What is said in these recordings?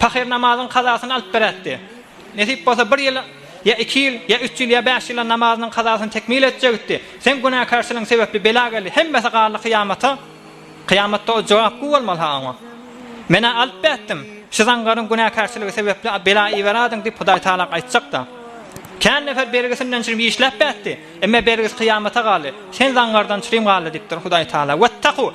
Pahyr namazyň kazasyny alyp berätdi. Nesip bolsa bir ýyl ýa iki ýyl ýa üç ýyl ýa bäş ýyla namazynyň kazasyny tekmil etjegitdi. Seň günäkärçiligiň sebepli bela geldi. Hemmesi galdy kyýamata. Kyýamatda o jogap guw bolmaly-ha oňa. Men-ä alyp bätdim. Şu zaňgaryň günäkärçiligi sebepli bela iberädiň diýip Hudaý Tagala aýtjak-da. Kän nefer bergisinden çürim işläp bätdi. Emme bergisi kyýamata galdy. Sen zaňgardan çürim galdy diýipdir Hudaý Tagala. Wettaku!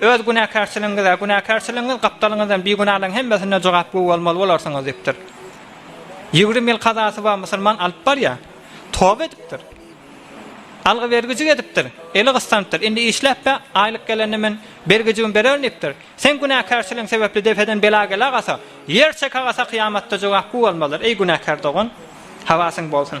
Öz günäkärçiligiňize, günäkärçiligiňiz gapdalyňyzdan bigünalaryň hemmesine jogapkü bolmaly bolarsyňyz diýipdir. Ýigrimi ýyl kazasy bar musulman alyp barýar. Toba edipdir. Algy-bergijik edipdir. Eli gysdanypdyr. Indi işläp-ä, aýlyk gelende men bergijigimi bererin diýipdir. Seň günäkärçiligiň sebäpli depeden bela gelagasa, ýer çekagasa kyýamatda jogapkü bolmalydyr, eý günäkär dogan! Habasyň bolsun!